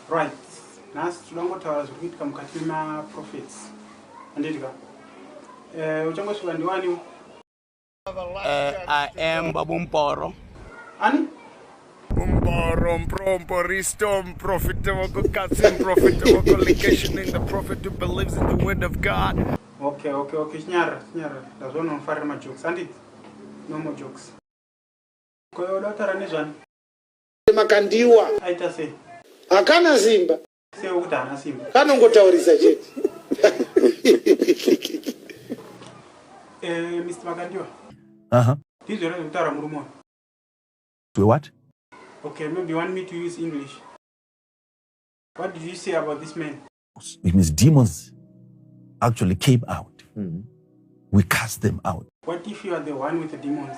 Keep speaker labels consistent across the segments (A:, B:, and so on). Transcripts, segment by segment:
A: Right. Nhasi tinoda kungotaura zviri kuitika mukati memaprophets. Handiti ka? Eh, uchangosvika ndiwaniwo. Eh,
B: I am Babu Mporo. Ani?
C: Umboro, mprompo, ristom, profitable, kukatsim, profitable, collocation in the prophet who believes in the word of God. Okay, okay, okay,
A: chinyara, chinyara. Ndazvona unofarira majokes, handiti? No more jokes. Koyo, unotaura nezvani?
D: Makandiwa. Aita
A: sei? Hakana simba.
D: Sei ukuti hana
A: simba? Kanongotaurisa
D: chete.
A: Eh, Mr. Makandiwa. Aha. Uh -huh. Ndizvo
B: rekutaura murume
A: uyu.
B: We what? Okay, maybe
A: you want me to use English. What did you say about this man? It means demons
B: actually came out. Mm -hmm. We cast them out. What if you are the
A: one with the demons?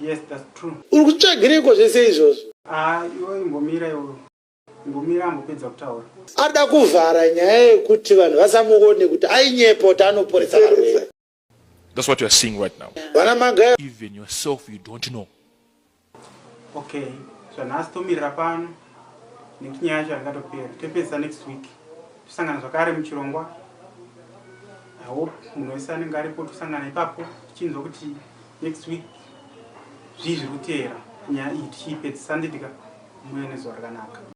E: Yes,
A: that's true. Uri kutsvagireiko zvese
D: izvozvo? Ah, iwe imbomira
A: iwe. Imbomira ambopedza kutaura. Ada kuvhara
D: nyaya yekuti vanhu vasamuone kuti ainyepo kuti anoporesa varwere. That's what you
E: are seeing right now. Vana magaya. Even
D: yourself you
E: don't know.
A: Okay. Zvanhasi tomirira pano nekuti nyaya yacho yakatopera. Topedza next week. Tosangana zvakare muchirongwa. I hope munhu wese anenge aripo tosangana ipapo tichinzwa kuti Next week zvii zviri kuteera nyaya iyi tichiipedzisa handiti ka? Muuye nezuva rakanaka.